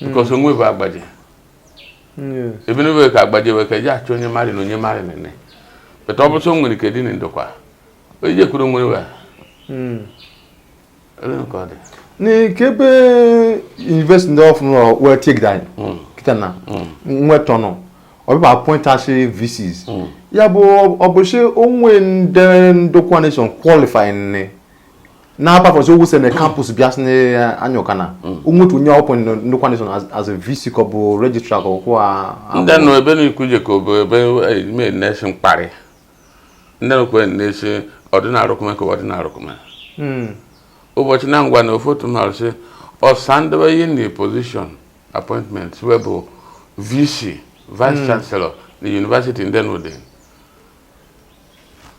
because o nwe ebe agbaje ebe n'ebe ka agbaje wee ka eji achọ onye mari na onye mari na ne but ọ bụ sị o nwere ike dị na Ndokwa onye je kwuru nwere wa ebe nke ọ dị n'ikebe university ndị ọfụrụ nọ wee tigide anyị hmm. kịta na hmm. nwetọ nọ ọ bịa appointịsị VCs hmm. ya bụ ọ bụ sị o nwe ndị Ndokwa nation qualify nị na apart from sị ogwu seme campus bịa sị anya ụka na onwetu onye ọ kpọ na Ndokwa nation as a vc ka ọ bụ registrar ka ọkwụ a ndị nọ ebe na-ekwu je ka ọ bụ ebe ime na-esi mkparị Ndokwa nation ọdịnarụkụme ka ọdịnarụkụme ụbọchị na ngwa na ofu otu mmadụ sị ọsa nde we ye na position appointment wee bụ vc vice chancellor na university ndị nụdị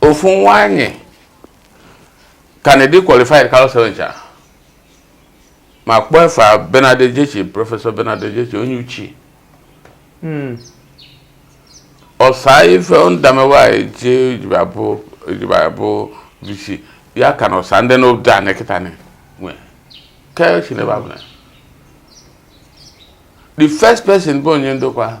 ofu nwa anyị ka dị qualified karịsị we ncha ma kpọọ efa Bernard Ejechi professor Bernard Ejechi onye Utchi hmm. ọsa ife nde a mewa eje ejibara bụ vc ya ka na ọsa ndị n'obodo a nekịta nwe ke chinebe abụla the first person bụ onye Ndokwa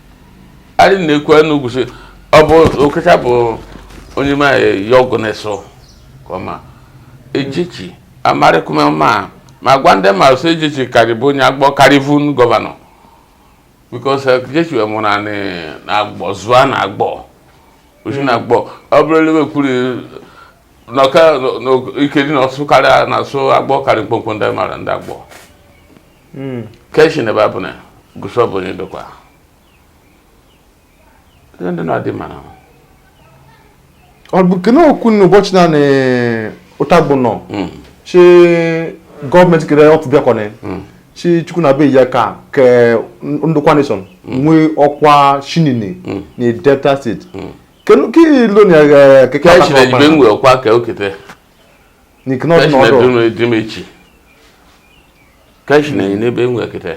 anyị na-ekwu anụ ugwusi ọ bụ Okecha bụ onye ma ya ọgụ na-eso ka ọ ma Ejechi amarịkụme ma ma gwa ndị mara sị Ejechi karị bụ onye agbọ karị bụ governor because Ejechi wee mụrụ anyị na agbọ zụọ na agbọ osi na agbọ ọ bụrụ elewe kwuru n'ọka ike dị na ọsụ karịa na asụ agbọ karị mkpomkpo ndị mara ndị agbọ hmm. keshi na babu na gusho bụ na Ndokwa ndị na-adị mara ọ bụ kene okwu n'ụbọchị na Utagba Unọ hmm. shi gọọmenti kere ọpụ bịakwana hmm. shi Chukwu na be ya ka ke Ndokwa nation nwee ọkwa shinini na Delta steeti kenu ka ilo na keke ọkwa ka okete n'ikene ọdụ na ọdụ emechi keshi na enyi n'ebe enwe kịta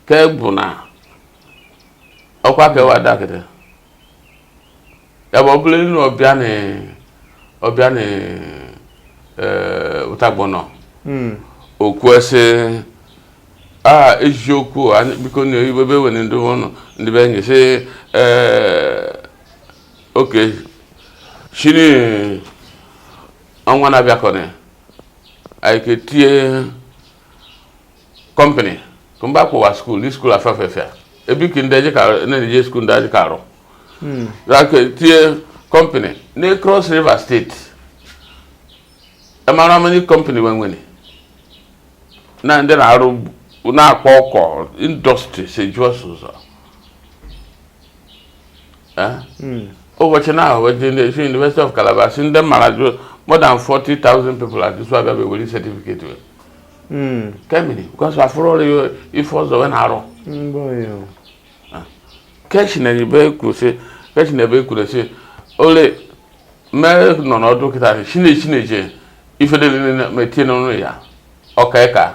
ke bụ na ọkwa ka ewa ada kịta ebe ọ bụla elu ọbịa na ọbịa na Utagba Unọ hmm. okwu ese a eziokwu biko na ebe were ndị ọnụ ndị be enyi sị ee okay shini ọnwa na-abịa kọrọ ya anyị ka etinye kọmpanị ka mba kwụwa skuul ni skuul afafefia ebi ka ndị na-eje skuul ndị ajị ka arụ hmm. ka etinye kọmpanị na Cross River steeti amara many kọmpanị nwenwene na ndị na-arụ na koko indọstrị si jụọ ụzọ hmm. ụbọchị na ahụ si University of Calabar si ndị mara jụ more than 40,000 people at this wabịa wewere certificate we hmm. kemini because afụrụ ọrụ ya ife ọzọ we na-arụ ah. keshi na ebe kwuru si keshi na ebe kwuru si ole mee nọ n'ọdụ kịta shine na-eje ife dị metie n'ọnụ ya ọka ịka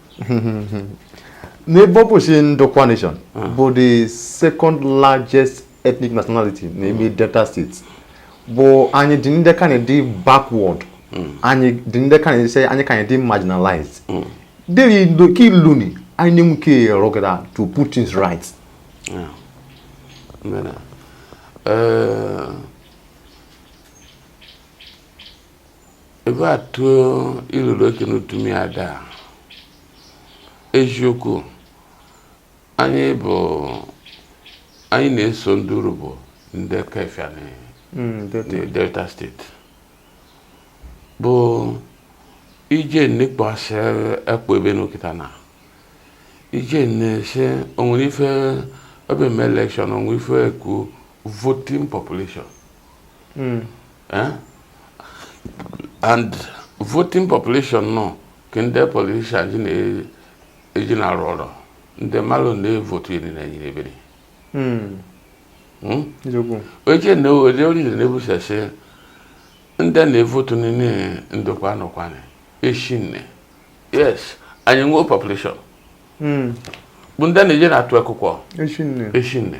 n'ebe ọ bụ si Ndokwa nation ah. bụ the second largest ethnic nationality na ime hmm. Delta State but anyị dị ndị ka na-edi backward hmm. anyị dị ndị ka na-esi anyị ka na-edi marginalized hmm. dịrị ka iluni anyị na-enwe ike rọgara to put things right ah. eh, ebe a tụọ ilulu ke n'utumi ada eziokwu anyị bụ anyị na-eso ndị Urhobo ndị kefia na hmm, Delta steeti bụ ije nnekpọasị ekpo ebe n'okita na ije na-ese onwere ife ebe eme elekshọn onwe ife ekwu voting population hmm. Eh? and voting population nọ ka ndị politician ji na-eji na-arụ ọrụ ndị mmadụ na-evotu eri na nyere ebere oche na ole oriri na-ebusasị ndị na-evotu ni na Ndokwa na Ukwuani eshi nne yes anyị nwee population hmm. bụ ndị na-eje na-atụ akwụkwọ eshi nne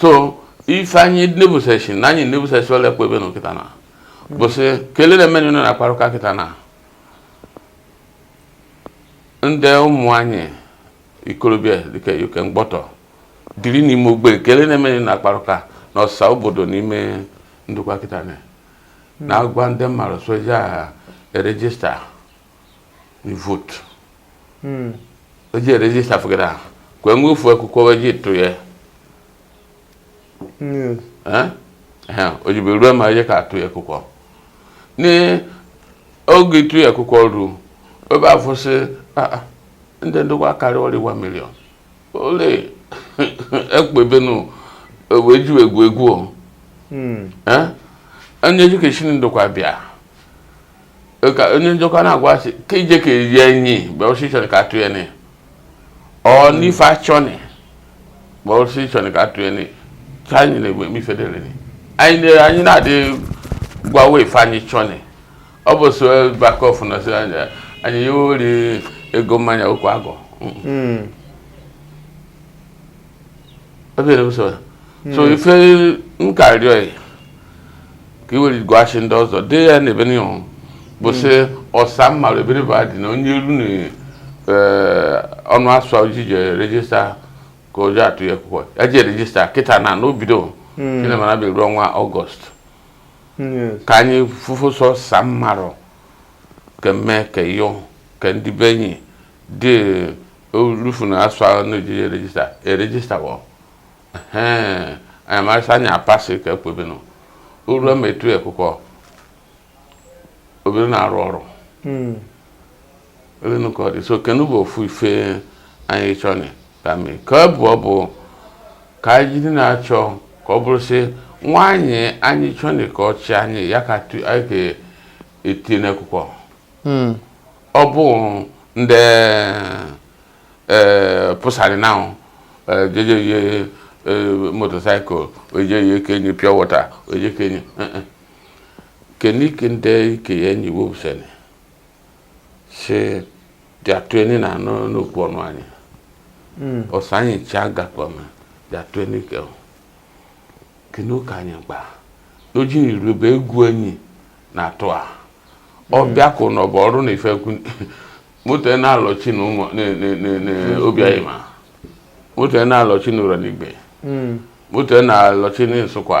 so ife anyị nebuseshi na anyị nebuseshi ole kwa ebe na kịtana bụsị kelene mmeni nọ na-akparụka kịtana ndị ụmụ anyị ikorobịa dịka ike mgbọtọ dịrị n'ime ogbe kelene mmeni na-akparụka na ọsa obodo n'ime Ndokwa kịtana na-agwa ndị mmadụ sị ọ ja erejista we vote hmm. eji register fugere ahụ kwee nwe ofu akwụkwọ wee ji tụ ya hmm. eh? eh, ojibe ruo ma eje ka atụ ya akwụkwọ n'oge ịtụ ya akwụkwọ ruo ebe afụsị ah, ah, ndị Ndokwa karịa ọrị one million ole ekpebenu wee ju egwu egwu o onye ji ka esi Ndokwa bịa ka onye njọkwa na-agwa asị ka ije ka eye enyi mgbe ọsị chọni ka atụ ya ne ọ n'ife achọni mgbe ọsị chọni ka atụ ya ne ka anyị na-egbe mifedere anyị na-adị gwawa ife anyị chọni ọ bụ so bakọf na so anya anyị ya ori ego mmanya okwu agwụ hmm. so hmm. ife m ka rịọ ka i were gwashị ndị ọzọ dị na ebeni o bụ sị ọsa mmadụ ebe bụ adị na onye runi eh, ọnụ asụa o ji eje rejista ka ọ ja atụ ya akwụkwọ ya je rejista kịtana n'obido chinema na-abịa ruo ọnwa August ka anyị fụfụ sị ọsa mmarụ ke mme ke yo ke ndị be enyi dị orufu na asụa na ejije rejista erejista wo anyị marịsa anyị apasị ka ekwebinụ uru emetu ekwụkwọ obere na-arụ ọrụ hmm. elenu ka ọ dị so kenu bụ ofu ife anyị chọni ka mee ka ọ bụ ọ bụ ka anyị jiri na-achọ ka ọ bụrụ sị nwa anyị anyị chọni ka ọ chị anyị ya ka tu- anyị ga-eti n'akwụkwọ Mm. ọ bụ ndị ee pụsanị na jeje ye motorcycle oje ye kenye pure water oje kenye keni kende ke ya enyi wobusene sị dị atụ enyi na anụ n'okwu ọnụ anyị hmm. ọsa anyị ncha gakwa ma dị atụ enyi ka ọ kene ụka anyị gba oji irube egwu enyi na atụ a ọ hmm. bịa kụ na ọ bụ ọrụ na ife kwu moto na-alọchi na ụmụ Obi Anyima moto na-alọchi na Urhonigbe hmm. moto na-alọchi na Nsukwa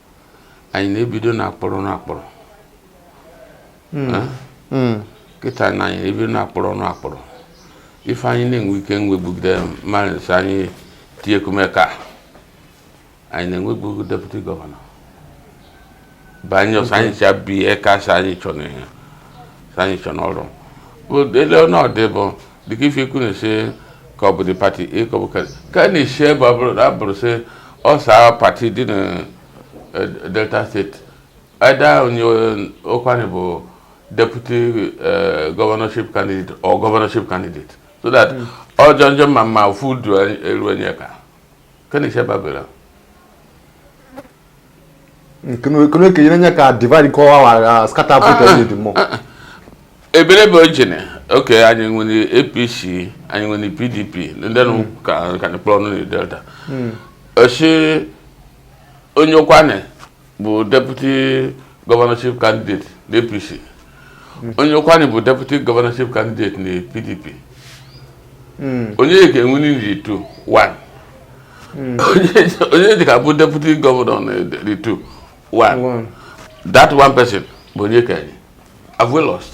anyị na-ebido na akpọrọ na akpọrọ hmm. Eh? Hmm. kịta na anyị ebido na akpọrọ na akpọrọ ife anyị na-enwe ike nwebugide mmadụ anyị tiekume eka anyị na-enwebu deputy governor banye ọsa anyị cha bi eka sị anyị chọ na ihe sị anyị chọ n'ọrụ ele ọnọdụ bụ dịka ife ikwu na-esi ka ọ bụ dị party ka ọ bụ ka ka a na-esi ebe ọ bụrụ na abụrụ sị ọsa party dị na eh, Delta State either onye ụkwanị bụ deputy eh, governorship candidate or governorship candidate so that ọ jọ njọ ọ ma mma ofu du eru anyị eka ka na-esi ebe abụrụ nkene kenyere nye ka divide ka ọwa wara scatter vote ah, ah, onye dị mọ ah, ebere bụ ojene okay anyị nwere apc anyị nwere pdp ndị nụ hmm. ka ka na kpọrọ na delta hmm. ọ sị onye ụkwanị bụ deputy governorship candidate na apc hmm. onye ụkwanị bụ deputy governorship candidate na pdp hmm. onye ka win na ndị two one hmm. onye dịka bụ deputy governor na ndị two one that one person bụ onye ke anyị have we lost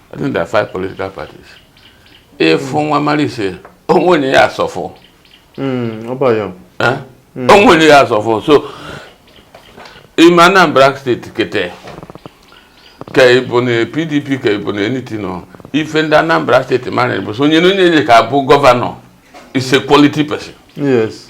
I think there are five political parties. Ife mm. wa marị sị, oh, when you ask for, mm, how about you? Huh? Mm. Oh, when you ask for, so in Anambra State, kịta, ka ị bụ na PDP ka ị bụ na anything ọ ife ndị Anambra State mara bụ so onye na onye ka abụ governor is a quality person. Yes.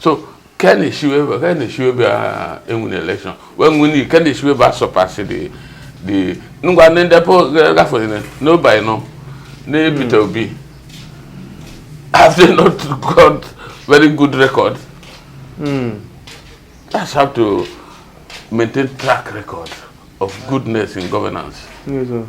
so ken eshiwe ken eshiwe bịa win election wee nwe ni ken eshiwe bịa surpass dị dị ngwa ndị ndepụ gafere na Obiano na Peter Obi have they not got very good record mm. that's how to maintain track record of goodness in governance. Yes, sir.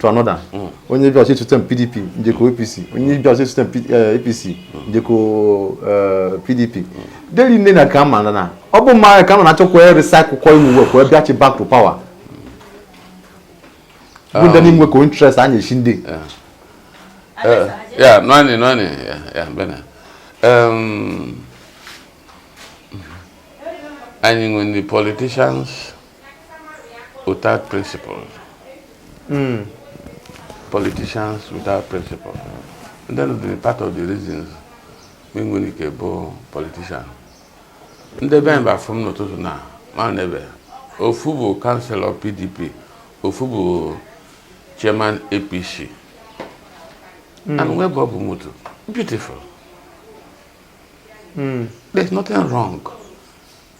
to another onye bịa ọchị system pdp njeko apc onye bịa ọchị system apc njeko pdp deri nne na ka ma na ọ bụ mma ka ma na-achọkwa recycle kwa onwe ka ọ bịachi back to power bụ ndị n'inwe ka interest a na-echi ndị ya nwanne nwanne ya ya bena anyị nwe ndị politicians without principles hmm. politicians without principles ndị nọ dị part of the reasons nwere ike bụ politician ndị bịa ba fụ m n'ụtụtụ na ma n'ebe ofu bụ kanselọ pdp ofu bụ chairman apc hmm. and webe ọ bụ moto beautiful hmm. there's nothing wrong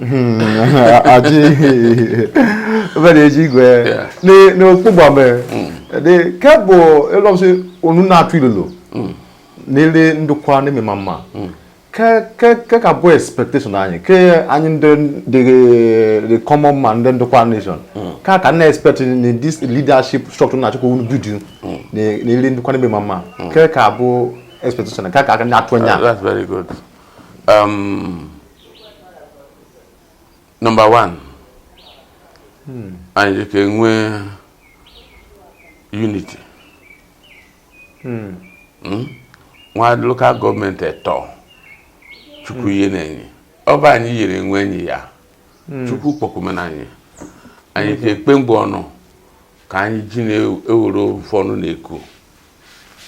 Hmm, aji bẹ́ẹ̀ eji gbẹ ni ni o kpọgbọ mẹ de kẹbọ elọsi onu na atu ilolo nele ndokwa ne mi mama kẹ kẹ kẹ ka bụ expectation anyị kẹ anyị ndị the the common man ndị ndokwa nation ka ka na expect in this leadership structure na achọkọ unu build nele ndokwa ne mi mama kẹ ka bụ expectation ka ka na atụ anya. that's very good. Um, number one hmm. anyị ka enwee unity hmm. Hmm? wa local government etọ chukwu yene anyị ọ bụ anyị yere onwe anyị ya chukwu kpọkumena anyị anyị ka ekpe mgbe ọnụ ka anyị ji na-ewere ofu ọnụ na-eku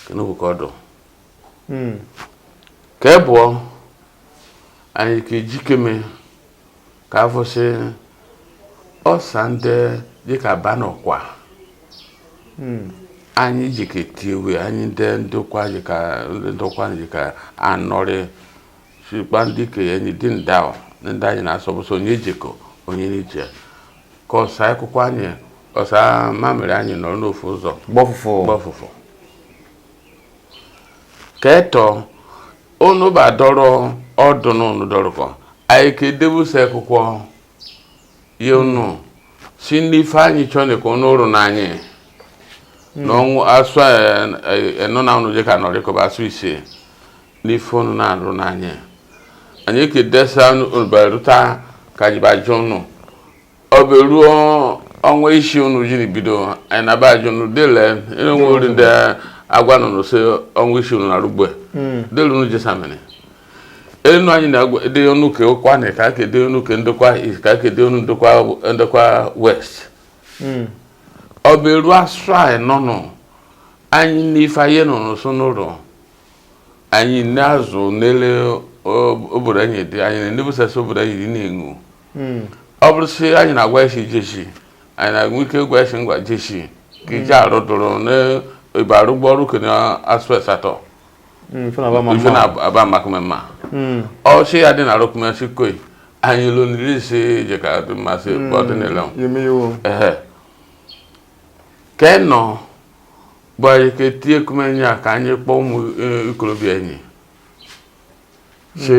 kenụ bụ ka ọ dụ hmm. ke ebụọ anyị ka ejikeme ka afụsị ọsa ndị jika banụ ọkwa hmm. anyị jika etiwe anyị ndị ndokwa jika ndokwa jika anọrị sikpa ndị ke ya anyị dị nda ndị anyị na-asọbụsọ onye jekọ onye n'ije ka ọsa akwụkwọ anyị ọsa mamịrị anyị nọrọ n'ofu ụzọ gbọfụfụ gbọfụfụ ke etọ unu ba dọrọ ọdụnụ unu dọrọkọ anyị ka edebụsa akwụkwọ ye unu sị ndị ife anyị chọọ na ka unu rụ n'anyị n'asụa enọ na unu jika nọrịkọ ba asụa ise n'ife unu na-arụ n'anyị anyị ka edesa unu barụta ka e ji bajụ unu ọ ba eru ọnwa isii unu jiri bido anyị na-aba ajụ unu dele enwe ori ndị agwa unu sị ọnwa isii unu na rugbe hmm. dele unu jesamini enu anyị na-ede unu ke ụkwụanị ka aka ede unu ke ndokwa east ka aka ede unu ndokwa ndokwa west hmm. ọ ba eru asụa enọ nụ anyị n'ife anyị nọ n'ụsọ n'ụlọ anyị na-azụ nele obodo anyị dị anyị na-enebusasị obodo anyị dị na-enwu hmm. ọ bụrụ si anyị na-agwa esi jeshi anyị na-enwe ike ịgwa isi ngwa jeshi ka ije hmm. arụ dụrụ na ibe arụgbu ọrụ kene asụa asatọ hmm, ife na-aba maka mmemme ọ si ya dị na arụkụmesi koi anyị lụ nri isi ije ka dị mmasị ebe ọ dị n'ile ka ị nọ bụ anyị ka etinye kumenye ya ka anyị kpọọ ụmụ e, ikolobịa anyị si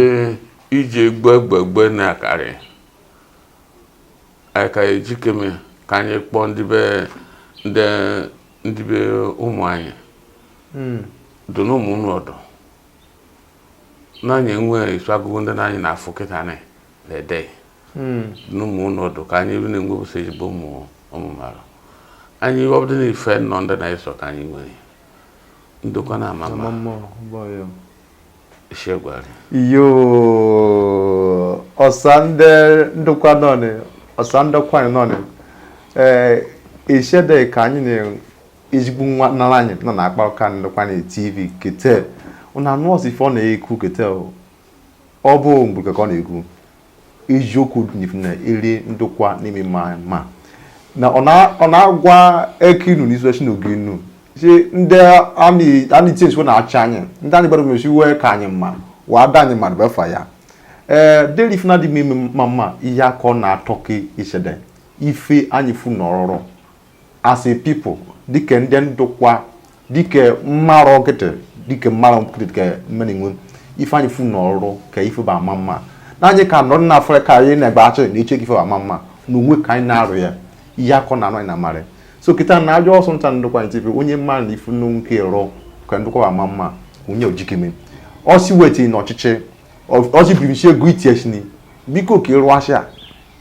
ije gbegbegbe na akare aka ejikeme ka anyị kpọọ ndị ibe ndị ndị ibe ụmụ anyị hmm. dụ na ime ụnọ ọdụ na anyị nwe isu agụgụ ndị na anyị na-afụ kịta na ede hmm. dụ na ime ụnọ ọdụ ka anyị ebe na-enwebụsa ezigbo ụmụ ụmụ mara anyị obodo na ife nọ ndị na-eso ka anyị nwere ndokwa na amama iyo ọsa nde ndokwa nọni ọsa nde ụkwanị nọni ee ishede ka anyị na ezigbo nwa nara anyị nọ na-akpa ụka ndokwa na tv kete unu anụọsị ife ọ na-ekwu kete ọ bụ mgbe ka ọ na-ekwu eziokwu dị na iri ndokwa n'ime ma ma na ọ na- ọ na-agwa eke inu na isochi na oge inu si ndị anyị anyị tie esi wa na-achị anyị ndị anyị gbara mesi wee ka anyị mma wa ada anyị mmadụ befa ya ee deri ife na-adị m ime mma mma ihe aka ọ na-atọ ka isede ife anyị fu na ọrụrụ as a people dịka ndị ndokwa dịka mmarụ ọkịtị dịka mmarụ ọkịtị dịka mmenenwe ife anyị fu n'ọrụ ka ife bụ ama mma na anyị ka nọrọ na afọ ka anyị na-egbe achọ na eche ka ife bụ ama mma na onwe ka anyị na-arụ ya ihe akọ na anụ anyị na amarị so kịta na ajọ ọsọ nta ndokwa anyị tife onye mma na ife nnu nke rụọ ka ndokwa bụ ama mma onye ojikeme ọsi wetiri na ọchịchị ọsi biribichi ego itiechini biko ka ịrụasị a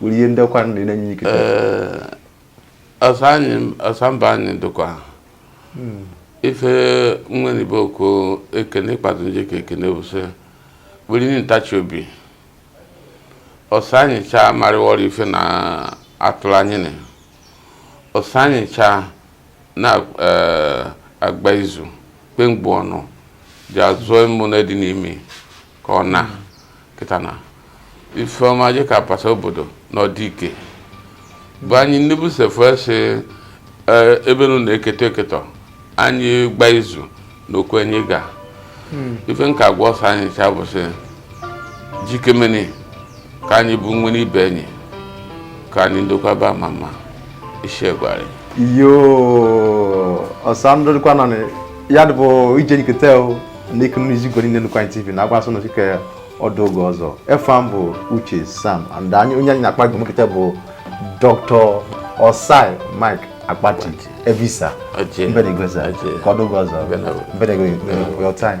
nwere ihe ndekwa nri na-enye ike ọsa mba anyị dịkwa hmm. ife nwenibe okwu ekene ikpazụ nje ka ekene bụ sị were ihe ntachi obi ọsa anyị chaa marịwọrọ ife na atụrụ anyị na ọsa anyị chaa na-agba eh, izu kpemgbe ọnụ ji azụọ ịmụ na dị n'ime ka ọ na kịta na ife ọma je ka pasa obodo na ọdịike bụ anyị nnebu sefesi e, ebe nụ na-eketa eketa anyị gba izu na okwu anyị ga hmm. ife m ka gwa ọsa anyị cha bụ sị jikemeni ka anyị buweni ibe enyi ka anyị ndokwa ba ama mma ishiegwari yo ọsa ndụ dịkwa nọ ya dịbụ ije nkata ndị kunu iji gwe niile ndokwa tv na agwa asụnụ chike ọ dụ oge ọzọ efa m bụ uche sam and anyị onye anyị na-akpa gị nkata bụ dr ossai mike akpati evisa mbenegweza ka ọ dụ oge ọzọ mbenegwe your time